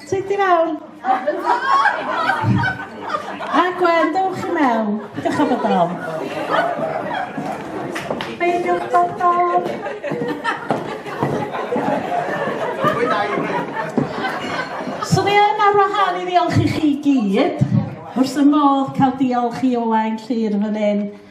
Ti di mewn? A Gwen, dewch i mewn. Dewch am y dom. Beidiwch bod dom. So ni yn ar wahân i ddiolch i chi gyd. Wrth y modd cael diolch i Owain Llyr fan hyn.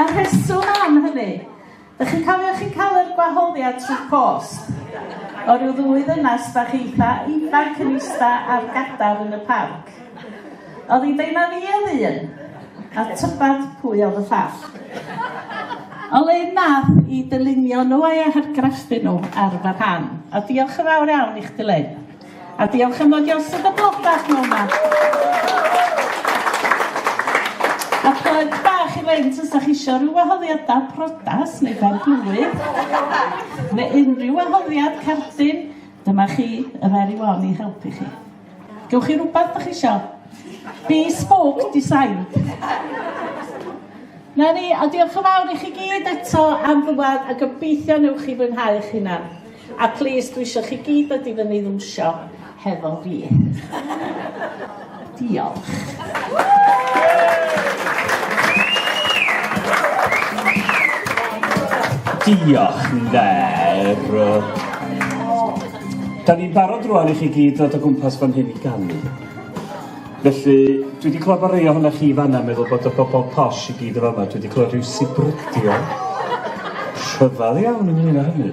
A'r rheswm am hynny, ych chi'n cofio chi'n cael yr gwahoddiad trwy post o ryw ddwy ddynas bach eitha ifanc yn ista ar gadar yn y parc? Oedd hi'n deud na fi oedd un, a tybed pwy oedd y llall. O le nath i dylunio nhw a'i hargraffu nhw ar fy rhan, a diolch yn fawr iawn i chdi Lynne. A diolch am ddod i osod y blwch bach mewn ma. A plug bach i fynd os da chi eisiau rhyw wahoddiadau prodas neu ben blwydd, neu unrhyw wahoddiad cardyn, dyma chi y fer i wan i helpu chi. Gewch chi rhywbeth da chi eisiau? Bespoke design. Na ni, a diolch yn fawr i chi gyd eto am ddwad a gobeithio newch chi fwynhau eich hunan. A plîs, dwi isio chi gyd dod i fyny i ddwsio hefo fi. Diolch. Diolch, Nder. Da ni'n barod rwan i chi gyd ddod o gwmpas fan hyn i ganu. Felly, dwi wedi clywed bod rei ohonoch chi fanna meddwl bod y bobl posh i gyd o fama. Dwi wedi clywed rhyw sibrydio. Rhyfedd iawn ynglyn â hynny.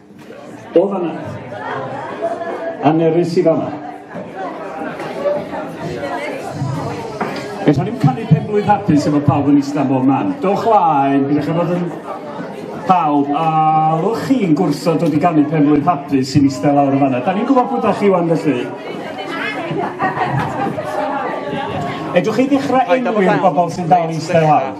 O fanna. Annerus i fanna. Eto ni'n canu pen blwydd hapus efo pawb yn isla bob man. Dowch laen, byddwch chi fod yn pawb, a lwch chi'n gwrso dod i ganu pen blwydd hapus sy'n isla lawr o fanna. Da ni'n gwybod bod da chi wan felly. Edwch chi ddechrau enwi'r bobl sy'n dal i isla lawr.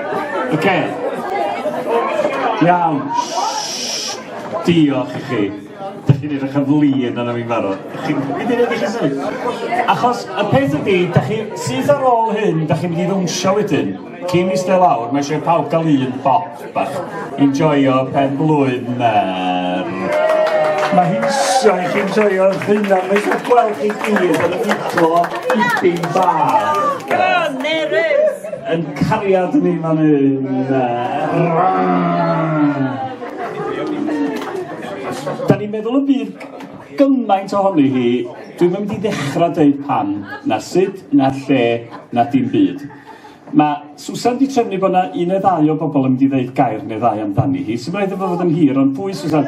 Oce. Iawn. Diolch i chi. Dych chi'n edrych yn flin yna fi'n barod. Achos y peth ydi, dych chi syth ar ôl hyn, dych chi'n mynd i ddwnsio wedyn. Cyn i stell awr, mae eisiau pawb gael un bop bach. Enjoyo pen blwydd mer. Mae hi'n sio i chi'n joio eich hunan. Mae eisiau gweld chi gyd yn y fideo i byn bach. Go on, Mary! Yn cariad ni fan hyn. Da ni'n meddwl y bydd gymaint ohoni hi, dwi'n mynd i ddechrau dweud pan, na sut, na lle, na dim byd. Mae Susan di trefnu bod yna un neu ddau o bobl yn mynd i ddeud gair neu ddau amdani hi, sy'n rhaid efo fod yn hir, ond pwy Susan?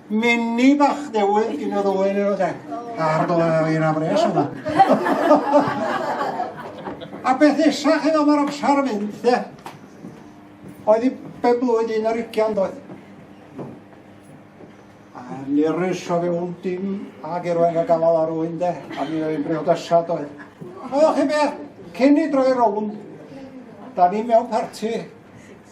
Mini bach newydd gyn yr oen yn oed e. Ar dole ar un afres yma. A beth nesaf chi ddod mae'r amser yn mynd, de? Oedd i ben blwydd un ar ugian doedd. A nirus o fewn dim a gerwain a gafael ar wy'n de, a mi oedd yn briodasad oedd. Oedd chi beth, cyn i droi rownd, da ni mewn parti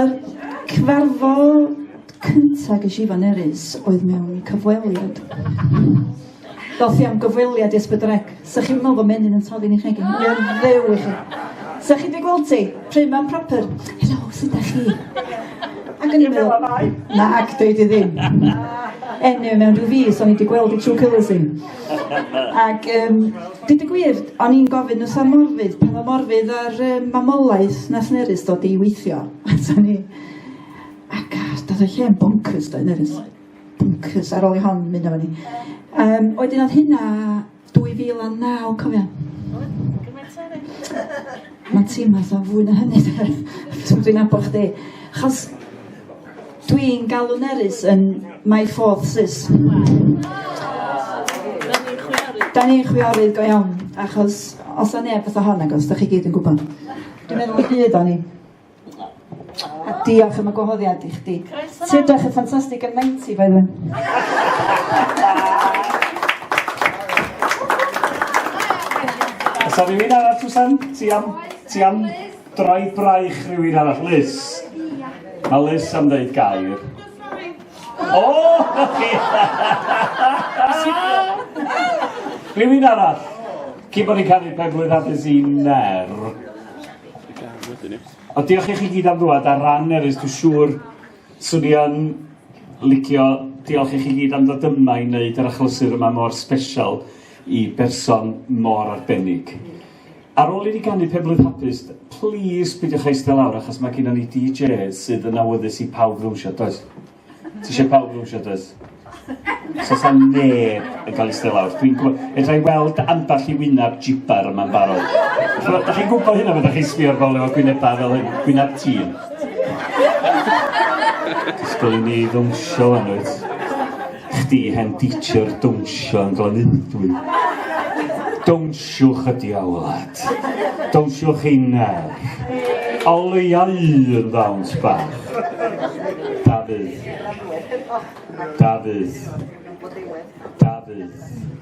Yr cyfarfod cynta ges i fan Erys oedd mewn cyfweliad. Doth i am gyfweliad i Ysbydrec. Sa chi'n meddwl bod menyn yn toddi'n eich egin? Ie, ddew i chi. Sa chi wedi gweld ti? Pryd mae'n proper? Helo, sut da chi? Ac yn i'n meddwl, na, ac dweud i ddim. Enw mewn rhyw fus, o'n i wedi gweld i trwy cylys i. Ac um, dyd y gwir, o'n i'n gofyn y Sam Morfydd, pan o Morfydd ar um, mamolaeth na Llynerys dod i weithio. Ato ni. Ac ar, dod o'i lle yn bonkers, dod Nerys. Bonkers, ar ôl i hon mynd o'n ni. Um, oedden oedd hynna 2009, cofio. Mae'n teimlo fatha fwy na hynny, dwi'n abod chdi. Chos Dwi'n galw nerys yn my fourth sis. Da ni'n chwiorydd go iawn, achos os na neb fatha hon agos, da chi gyd yn gwybod. Dwi'n meddwl y byd o'n i. A diolch am y gwahoddiad i chdi. Ti'n edrych yn ffantastig yn 90, by the Os o'n i'n mynd arall, Susan, ti am, ti am Drai braich rhywun arall. Liz. Mae Liz am ddeud gair. O! Rhywun arall. Cyn bod ni'n cael ei penblwydd hapus i Ner. O, diolch i chi gyd am ddwad ar ran Nerys, dwi'n siŵr swn i yn licio diolch i chi gyd am ddod yma i wneud yr achlysur yma mor special i berson mor arbennig. Ar ôl i ni ganu Pe Blwydd Hapus, plîs pidiwch eistedd lawr achos mae gynnon ni DJ sydd yn awyddus i pawb ddawnsio, does? Ti eisiau pawb ddawnsio, does? So sa neb yn cael eistedd lawr. Dwi'n gwybod, edra i weld ambell i wyneb jibar yma'n barod. Chymod, da chi'n gwybod hynna, fe da chi'n sbio'r bobl efo gwynebau fel hyn, gwyneb tîn. Ysgol i ni ddawnsio fan wyt. Chdi hen dîtshir dawnsio yn Glanyddwy. Dawnsiwch y diawlad. Dawnsiwch ei nerth. Oleuau un ddawns bach. Dafydd. Dafydd. Dafydd.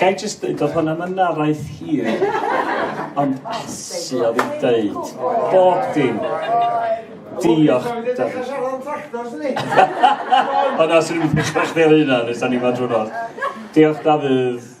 Gai jyst dweud, oedd hwnna mynd araith hir, ond asu oedd hi'n dweud bob dim. Diolch, Dafydd. Ond os ydym yn dechrau chdi ar hynna, nes da ni fod drwy'r nos. Diolch, Dafydd.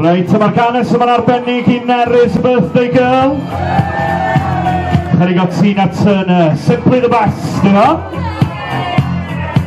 Reit, mae'r ganes yma'n arbennig i Nerys Birthday Girl. Chydig o Tina Turner, Simply the Best, yna.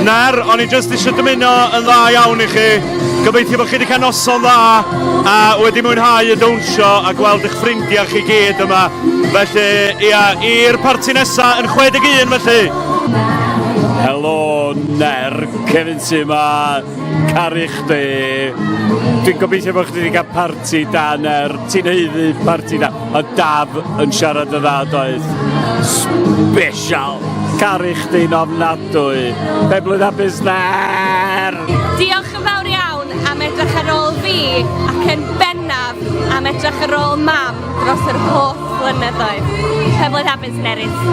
Na'r, o'n i jyst eisiau dymuno yn dda iawn i chi. Gobeithio bod chi wedi cael noson dda a wedi mwynhau y dawnsio a gweld eich ffrindiau chi gyd yma. Felly, ia, i'r parti nesaf yn 61 felly. Helo, Ner, Kevin sy yma, caru chdi. Dwi'n gobeithio bod chdi wedi cael parti da, Ner. Ti'n heiddi parti da. A Daf yn siarad yn dda doedd. Special! Caru chdi'n ofnadwy. Pe blwydd a busner! Diolch yn fawr iawn am edrych ar ôl fi ac yn bennaf am edrych ar ôl mam dros yr holl flynyddoedd. Pe blwydd a busnerys!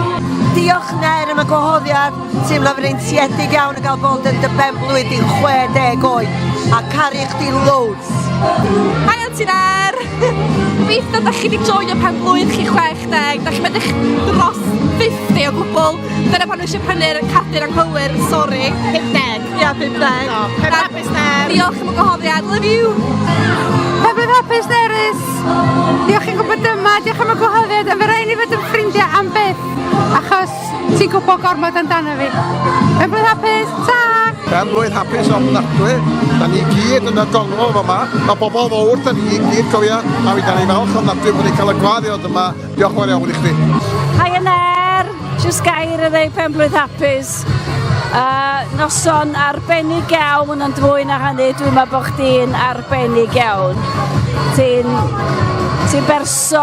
Diolch Nair am y gwahoddiad. Teimlo fi'n eintiedig iawn yn cael bod yn dy benblwydd di'n 60 oed a caru chdi loads. Hi Auntie Ner! Gobeithio da chi wedi joio pen blwydd chi 60, da chi medrych dros 50 o gwbl, dyna pan eisiau prynu'r cadur anghywir, sori. 50. Ia, 50. No, pen hapus Ner! Diolch am y gwahoddiad, love you! Pen blwydd hapus Nerys! Diolch i'n gwybod dyma, diolch am y gwahoddiad, ond fe rhaid ni fod yn ffrindiau am byth, achos Ti'n gwybod gormod amdano fi. Pen blwydd hapus, ta! Pen blwydd hapus ofnadwy. Da ni gyd yn y gongol yma. Mae bobl fawr, da ni gyd cofio. A fi da ni falch ofnadwy bod ni'n cael y gwadd i ddod yma. Diolch yn fawr iawn i chdi. Hi yn er, jyst gair y ddeu pen blwydd hapus. Uh, noson arbennig iawn ond fwy na hynny dwi'n meddwl bod chdi'n arbennig iawn ti'n ti berson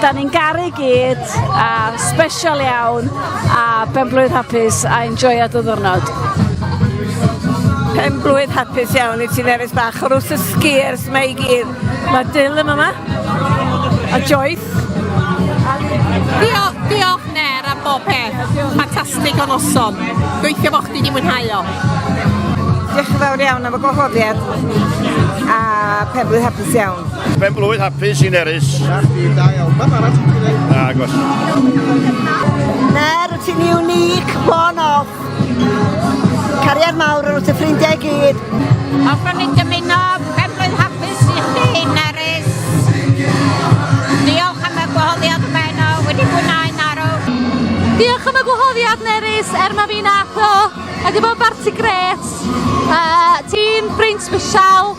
da ni'n garu gyd grêt a sbesial iawn a benblwydd hapus a enjoia dy ddwrnod. Pen blwydd hapus iawn i ti Nerys Bach o'r wrth y sgiers mae i gyd. Mae Dyl yn yma. A Joyce. Diolch, diolch Ner am bob peth. Ffantastig o noson. Gweithio fo chdi di mwynhau o. Diolch yn fawr iawn am y gwahoddiad a pen blwydd hapus Hapus iawn. Pen blwydd hapus i Nerys. Dardi, da iawn. Beth arall ti'n gwneud? Na, agos. Ner, ti'n unique, one off. Cariad mawr yn wrth y ffrindiau gyd. Hoffwn ni dymuno pen blwydd hapus i chdi, Nerys. Diolch am y gwahoddiad y beno, wedi gwneud narw. Diolch am y gwahoddiad, Nerys, er mae fi'n atho. Ac efo barti gret. Uh, ti'n ffrind special.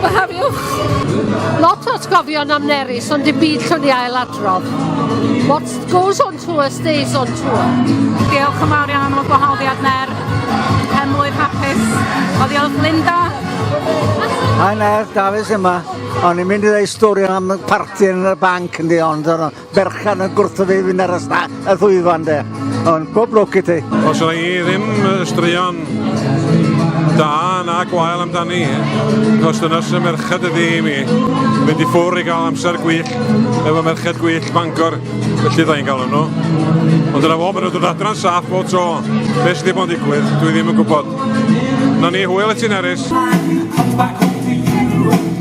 Gwahariwch! Lot o atgofion am Nerys ond dim byd llwn i ail adrodd. What goes on tour stays on tour. Diolch yn fawr iawn am y gwahoddiad Ner. Pen mlwydd hapus. O ddiolch Linda. Hi Ner, Dafis yma. O'n i'n mynd i ddweud stori am parti yn y banc yn di ond berchen yn gwrthod ei fynd ar y sta- y ddwyfan de. Ond pob lwc i ti. Os yna i ddim straeon da na gwael amdani, os dyna sy'n merched ydi i mi, mynd i ffwr i gael amser gwych efo merched gwych Bangor, felly dda i'n galw nhw. Ond dyna fo, maen nhw'n dod adran saff o tro. Beth sydd wedi bod yn digwydd, dwi ddim yn gwybod. Na ni, hwyl i ti'n erys.